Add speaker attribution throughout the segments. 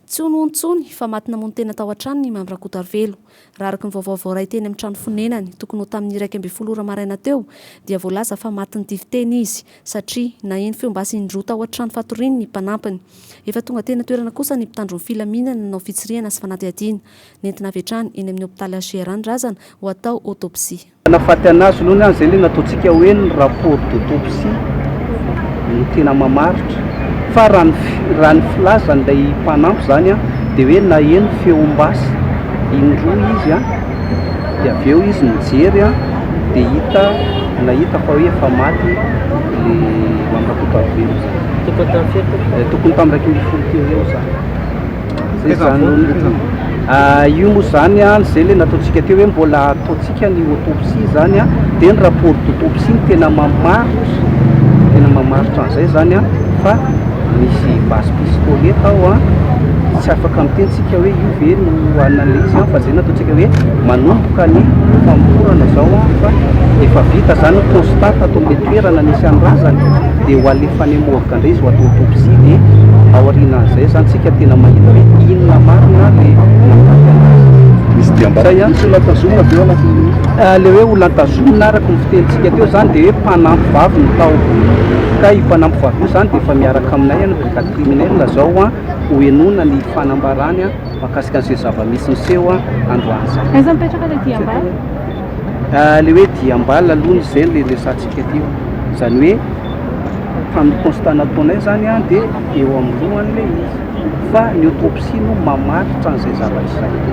Speaker 1: Tsy hono hono intsony fa maty namono tena tao an-tranony i Mamy Rakotoarivelo. Raha araka ny vaovao voaray teny amin'ny trano fonenany, tokony ho tamin'ny iraika ambin'ny folo ora maraina teo, dia voalaza fa matin'ny tifiteny izy, satria naheno feo basy indroa tao an-trano fatoriany ny mpanampiny. Efa tonga teny an-toerana kosa ny mpitandro ny filaminana nanao fitsirihana sy fanadihadiana. Nentina avy hatrany eny amin'ny hopitaly HJR ny razana ho atao autopsie. Tanafaty anazy
Speaker 2: aloha ny an izay le nataontsika hoe ny rapport d'autopsie no tena mamaritra fa raha ny raha ny filazan'ilay mpanampy izany an dia hoe naheno feom-basy indroa izy an dia avy eo izy nijery an dia hita nahita fa hoe efa maty le Mamirakoto Rajoelina izany tokony tamin'ny iraika ambin'ny folo teo eo izany Zay zany no nofo. Ah, io moa zany an, zay le nataontsika teo hoe mbola ataontsika ny autopsie zany an, dia ny rapport d'autopsie no tena mamaritra, tena mamaritra an'izay zany an, fa misy base pistole tao an, dia tsy afaka miteny tsika hoe io ve no an'ilay izy an, fa zay no ataontsika hoe manomboka ny famorana zao an, fa efa vita zany ny constat tato amin'ilay toerana nisy an'ny razana, dia ho alefany am. Tandrizo ho atao autopsie dia ao aorianan'izay zany tsika tena mahita hoe inona marina le nahafaty anazy.
Speaker 3: Misy diam-bata ihany tsy olona tazomina avy eo anatin'ny nosy? Le hoe olona tazomina
Speaker 2: araka ny fitenintsika teo zany dia hoe mpanampy vavy no tao ka io mpanampy vavy io zany dia efa miaraka aminay any brigade criminelle zao an ho henoina ny fanambarany an makasika an'izay zava-misy niseho an androany zay. Aiza mipetraka le diam-bata?
Speaker 4: Ilay
Speaker 2: hoe diam-bala aloha no izay no iresahantsika aty e. Izany hoe tamin'ny constat nataonay izany dia eo amin'ny lohany ilay izy fa ny autopsie no mamaritra an'izay zavatra izay.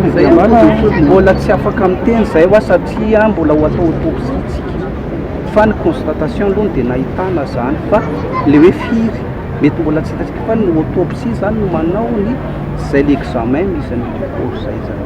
Speaker 2: Izay an, mbola tsy afaka miteny izahay hoa satria mbola ho atao autopsie isika fa ny constatation aloha no dia nahitana izany fa ilay hoe firy mety mbola tsy hitantsika fa ny autopsie izany no manao ny Zay le examen misy an'io cours zay zany.